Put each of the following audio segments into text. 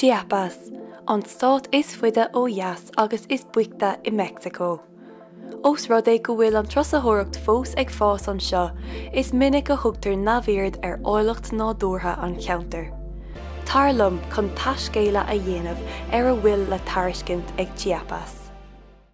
Chiapas, an stát is faide ó dheas agus is boichte i Meicsiceo. Ós rud é go bhfuil an turasóireacht fós ag fás anseo, is minic a thugtar neamhaird ar áilleacht nádúrtha an cheantair. Tar liom chun taiscéaladh a dhéanamh ar a bhfuil le tairiscint ag Chiapas.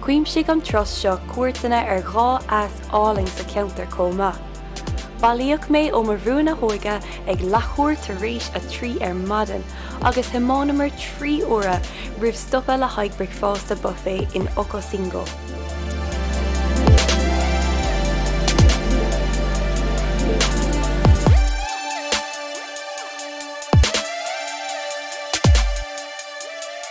Chuimsigh an turas seo cuairteanna ar dhá eas álainn sa cheantar chomh maith. Bailíodh mé ó mo bhrú na hóige ag leathuair tar éis a trí ar maidin agus thiománamar trí uaire roimh stopadh le haghaidh bricfeásta buffet in Ocosingo.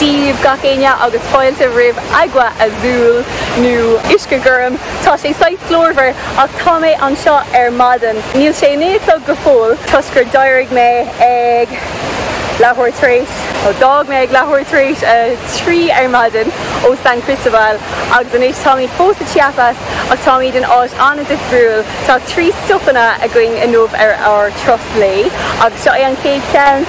díbh gach éinne agus fáilte roimh Agua Azul nó uisce gorm. Tá sé saghas glórmhar ach tá mé anseo ar maidin. Níl sé naoi a chlog go fóill toisc gur d'éirigh mé ag leathuair tar éis, nó d'fhág mé ag leathuair tar éis a trí ar maidin ó San Cristobal agus anois táimid fós sa Chiapas ach táimid in áit an-difriúil. Tá trí stopanna againn inniu ar ár dturas lae agus seo é an chéad cheann.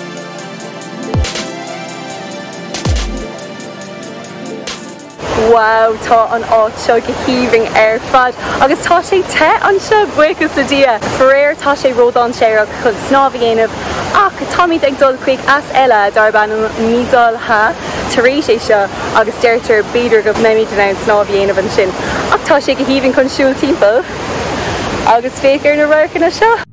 Wow tá an áit seo go haoibhinn ar fad agus tá sé te anseo buíochas le Dia. Faraor tá sé ródháinséarach chun snámh a dhéanamh ach táimid ag dul chuig eas eile darb ainm Misol Ha tar éis é seo agus deirtear b'fhéidir go mbeimid in ann snámh a dhéanamh ansin ach tá sé go haoibhinn chun siúl timpeall agus féach ar na radharcanna seo.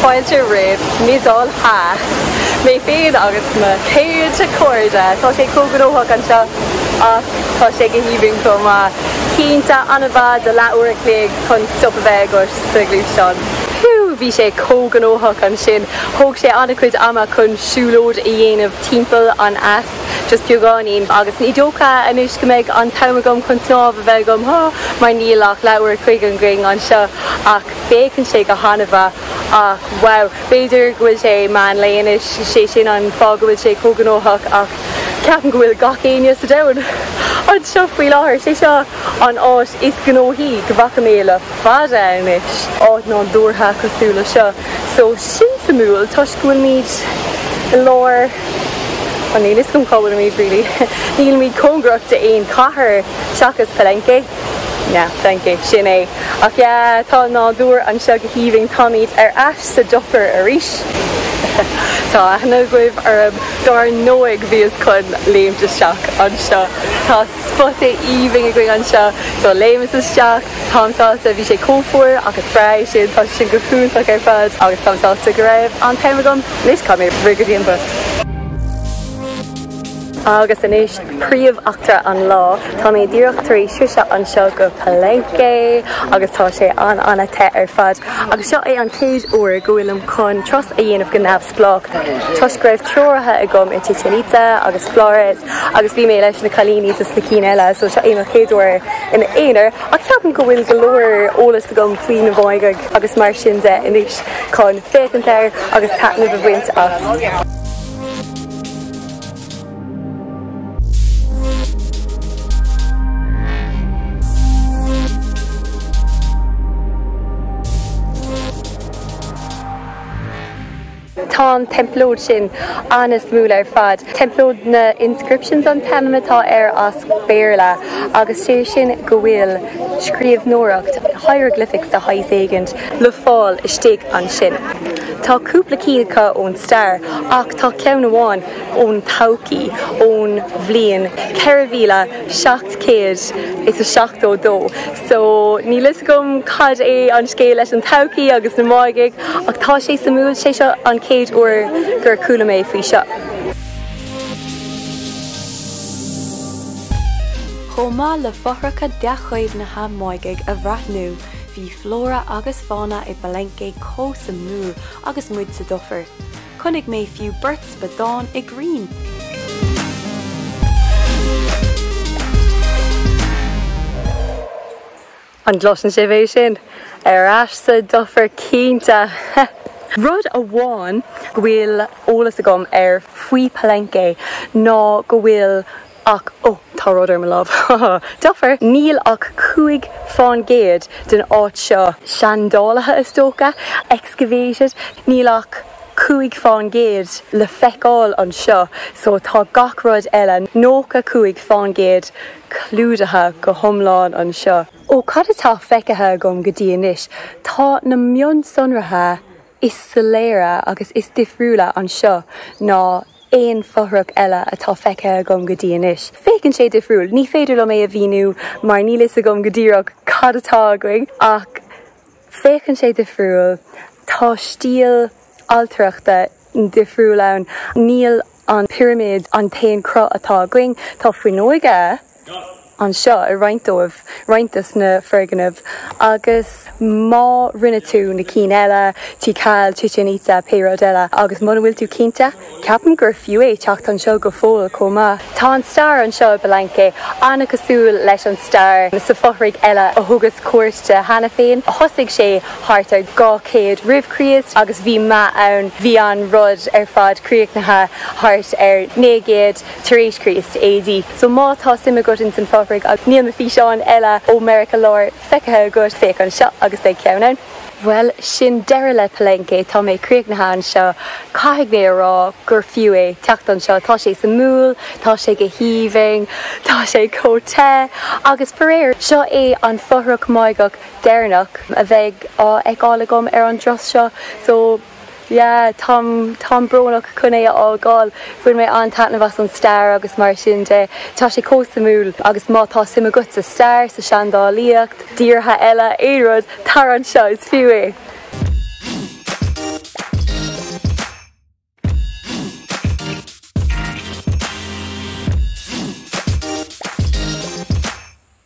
Fáilte roimh Misol Ha! Mé féin agus na céadta cairde, tá sé chomh gnóthach anseo ach tá sé go haoibhinn chomh maith. Cinnte, an-mhaith do leathuair a chloig chun stop a bheith agat sa ghluaisteán. Whew! Bhí sé chomh gnóthach ansin. Thóg sé an-chuid ama chun siúlóid a dhéanamh timpeall an eas, just beagáinín, agus ní dócha anois go mbeidh an t-am agam chun snámh a bheith agam, há! mar níl ach leathuair a chloig againn anseo, ach féachann sé go han-mhaith. Ach, wow, b'fhéidir go bhfuil sé meán lae anois, sé sin an fáth go bhfuil sé chomh gnóthach, ach ceapaim go bhfuil gach éinne sa domhan anseo faoi láthair, sé seo an áit is gnóthaí go bhfaca mé i. fada anois, áit nádúrtha cosúil leis seo. So sin suimiúil toisc go bhfuilimíd i lár an níl 'fhios agam cá bhfuilimíd really. Nílimíd cóngarach d'aon cathair seachas Palenque. Yeah, Palenque, sin é. Ach yeah, tá nádúr anseo go haoibhinn. Táimíd ar ais sa dufair arís. Tá aithne agaibh orm dár ndóigh bhíos chun léimt isteach anseo. Tá. Spota aoibhinn againn anseo. So léimeas isteach. Táim sásta, bhí sé chomh fuar agus bracing, tá sin go hiontach ar fad agus táim sásta go raibh an t-am agam. Anois, caithfidh mé rith go dtí an bus. Agus anois, príomheachtra an lá. Tá mé díreach tar éis sroisint anseo go Palenque agus tá sé an-an-te ar fad. Agus seo é an chéad uair go bhfuilim chun turas a dhéanamh go neamh-. spleách, toisc go raibh treoraithe agam i Chichen Itza agus Flores agus bhí mé leis na cailíní dos na cinn eile so seo é mo chéad uair i m'aonar ach ceapaim go bhfuil go leor eolas agam faoi na Máighigh agus mar sin de anois chun féachaint air agus taitneamh a bhaint as. Tá an teampall úd sin an-suimiúil ar fad. Temple of the Inscriptions an t-ainm atá air as Béarla agus 'sé sin go bhfuil scríobhnóireacht, hieroglyphics de shaghas éigint, le fáil istigh ansin. Tá cúpla cinn acu ón stair ach tá ceann amháin ón todhchaí, ón bhliain ceithre mhíle seacht gcéad is a seachtó dó. So, níl fhios agam cad é an scéal leis an todhchaí agus na Máighigh ach tá sé suimiúil, 'sé seo an chéad uair gur chuala mé faoi seo. Chomh maith le fothracha dea-chaomhnaithe Máighigh a bhreathnú, bhí flóra agus fána i bPalenque chomh suimiúil agus muid sa dufair. Chonaic mé fiú beirt spadán i gcrainn. An gcloiseann sibh é sin? Ar ais sa dufair cinnte! Rud amháin go bhfuil eolas agam air faoi Palenque ná go bhfuil Ach, ó, tá rud ar mo láimh, ha ha ha, dufair! Níl ach cúig faoin gcéad den áit seo seandálaithe, is dócha, excavated. Níl ach cúig faoin gcéad le feiceáil anseo, so tá gach rud eile, nócha cúig faoin gcéad, clúdaithe go hiomlán anseo. Ó cad atá feicthe agam go dtí anois, tá na mionsonraithe is soiléire agus is difriúla anseo ná aon fothrach eile atá feicthe agam go dtí anois. Féachann sé difriúil. Ní féidir liom é a mhíniú mar níl fhios agam go díreach cad atá againn ach féachann sé difriúil. Tá stíl ailtireachta difriúil ann. Níl an pirimid an t-aon cruth atá againn. Tá fuinneoige anseo i roinnt dóibh, roinnt de sna foirgnimh agus má rinne tú na cinn eile, Tikal, Chichen Itza, pé rud eile agus muna bhfuil tú cinnte, ceapaim gur fiú é teacht anseo go fóill chomh maith. Tá an stair anseo i bPalenque an-cosúil leis an stair sa fothraigh eile a thugas cuairt air cheana féin. Thosaigh sé thart ar 200 roimh Chríost agus bhí meath ann, bhí an rud ar fad críochnaithe thart ar 900, tar éis Chríost, AD. So má tá suim agat ins an fothraigh agus níl na físeáin eile ó Meiriceá Láir feicthe agat, féach anseo agus beidh ceann ann. Bhuel, sin deireadh le Palenque, tá mé críochnaithe anseo. Caithfidh mé a rá gur fiú é teacht anseo, tá sé suimiúil, tá sé go haoibhinn, tá sé chomh te agus faraor, seo é an fothrach Máigheach deireanach a bheidh á fheiceáil agam ar an dturas seo. So. Yeah, táim, táim brónach chun é a fhágáil. Bhain mé an-taitneamh as an stair agus mar sin de. Tá sé chomh suimiúil agus má tá suim agat sa stair, sa seandálaíocht, i dtíortha eile, aon rud, tar anseo, is fiú é!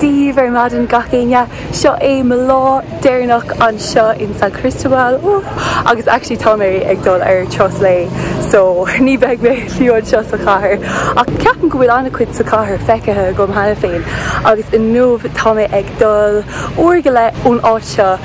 Daoibh ar maidin gach éinne. Seo é mo lá deireanach anseo in San Cristobal agus actually tá mé ag dul ar turas lae so ní beidh mé fiú anseo sa chathair ach ceapaim go bhfuil an-chuid sa chathair feicthe agam cheana féin agus inniu tá mé ag dul uair go leith ón áit seo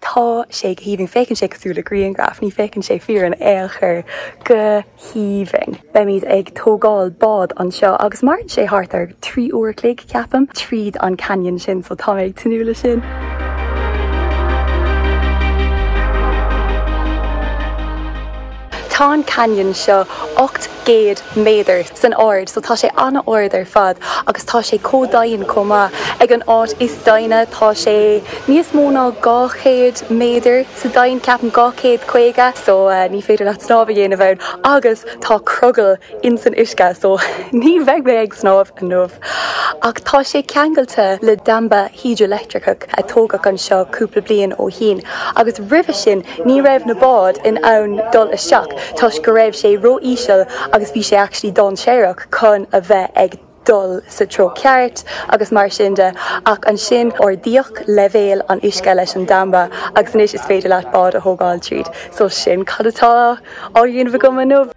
Tá sé go haoibhinn. Féachann sé cosúil le grianghraf. Ní féachann sé fíor in ao' chor. Go haoibhinn. Beimid ag tógáil bád anseo agus maireann sé thart ar trí uair a chloig, ceapaim, tríd an canyon sin so tá mé ag tnúth le sin. Tá an canyon seo ocht gcéad méadar. san ard so tá sé ana ard ar fad agus tá sé chomh doimhin chomh maith ag an áit is doimhne tá sé níos mó ná 200 méadar sa doimhin ceapaim 250 so ní féidir leat snámh a dhéanamh ann agus tá crogall ins an uisce so ní bheidh mé ag snámh inniu ach tá sé ceangailte le damba hidrileictreach. a tógadh anseo cúpla bliain ó shin agus roimhe sin ní raibh na báid in ann dul isteach toisc go raibh sé ró-íseal agus bhí sé actually dáinséarach chun a bheith ag dul sa treo ceart agus mar sin de ach ansin ardaíodh leibhéal an uisce leis an damba agus anois is féidir leat bád a thógáil tríd so sin cad atá á dhéanamh agam inniu.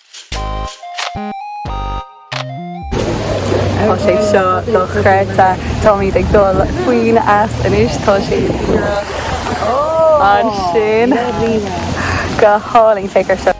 Tá sé seo dochreidte. Táimíd ag dul faoin eas anois. Tá sé fuar ansin. Go hálainn. Féach ar seo.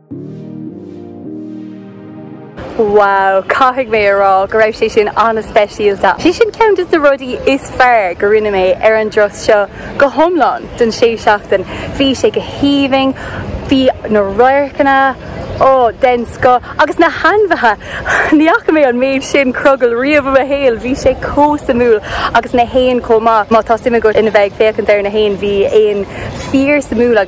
Wow, caithfidh mé a rá go raibh sé sin an-speisialta. Sé sin ceann de na rudaí is fearr go rinne mé ar an turas seo go hiomlán don sé seachtain. Bhí sé go haoibhinn, bhí na radharcanna, ó den scoth agus na hainmhithe ní fhaca mé an méid sin crogall riamh i mo shaol, bhí sé chomh suimiúil agus na héin chomh maith. Má tá suim agat ina bheith ag féachaint ar na héin, bhí éin fíor-suimiúla.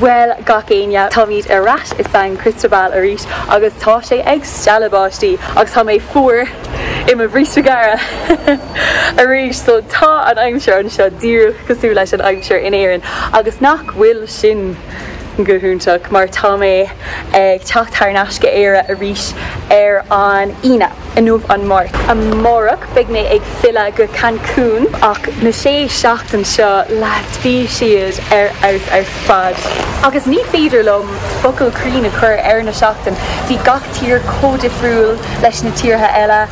Bhuel gach éinne, táimíd ar ais i San Cristobal arís agus tá sé ag stealladh báistí agus tá mé fuar i mo bhríste gearra arís so tá an aimsir anseo díreach cosúil leis an aimsir in Éirinn agus nach bhfuil sin go hiontach mar tá mé ag teacht thar n-ais go Éire arís ar an Aoine. Inniu an Máirt. Amárach beidh mé ag filleadh go Cancun. Ach na sé seachtain seo leads bhí siad ar fheabhas ar fad. Agus ní féidir liom focal cruinn a chur ar na seachtain. Bhí gach tír chomh difriúil leis na tíortha eile.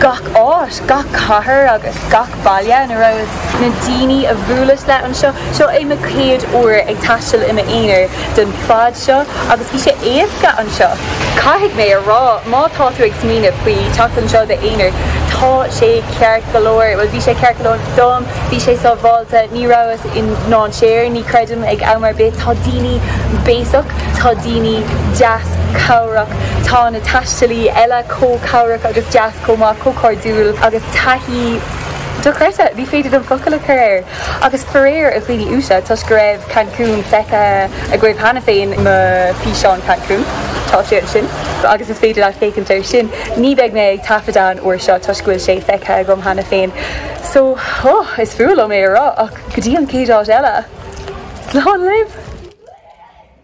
Gach áit, gach cathair agus gach. baile ina rabhas na daoine a bhuaileas le anseo. Seo é mo chéad uair ag taisteal i m'aonar don fad seo agus bhí sé éasca anseo. Caithfidh mé a rá má tá tú ag smaoineamh faoi teacht anseo i d'aonar tá sé ceart go leor, bhuel bhí sé ceart go leor dom, bhí sé sábháilte, ní rabhas i ndainséar ní creidim ag am ar bith. Tá daoine béasach, tá daoine deas cabhrach, tá na taistealaí eile chomh cabhrach agus deas. chomh maith, chomh cairdiúil agus taithí dochreidte, ní féidir liom focail a chur air, agus faraor a dhaoine uaisle, toisc go raibh Cancún feicthe agaibh cheana féin, mo físeán Cancún, tá sé ansin agus is féidir leat féachaint air sin, ní beidh mé ag taifeadadh an uair seo toisc go bhfuil sé feicthe agaibh cheana féin so oh is fuath liom é a rá ach go dtí an chéad áit eile, slán libh!